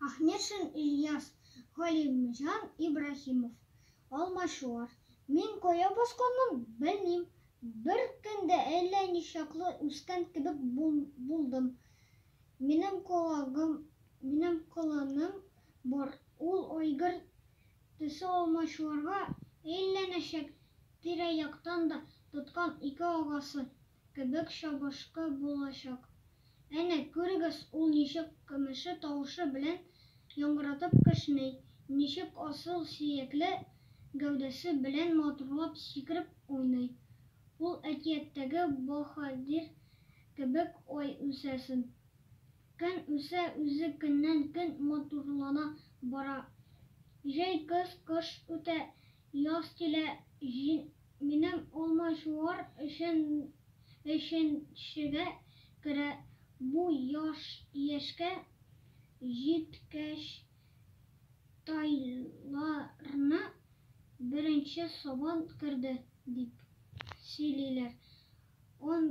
Ахмешин Ильяс, Галимҗан Ибраһимов, Алмачуар. Мин кая басканмын, белмим. Бер көндә әллә ничаклы үскән кебек булдым. Минем колагым, минем колыным бар, ул айгыр төсе Алмачуарга әйләнәчәк, тирә-яктан да тоткан ике агасы, кебек чабышкы булачак. Әнә, күрегез, ул ничек көмеше тавышы белән яңгыратып кешни, ничек асыл сөякле гәүдәсе белән матурлап сикереп уйный. Ул әкияттәге баһадир кебек ай үсәсен. Көн үсә, үзе көннән-көн матурлана бара. Җәй, көз, кыш үтә, Яз килә, җин, минем алмачуар өчен өченчегә керә, бу яшь яшькә җиткәч тайларны беренче сабан керде, дип сөйлиләр. Он.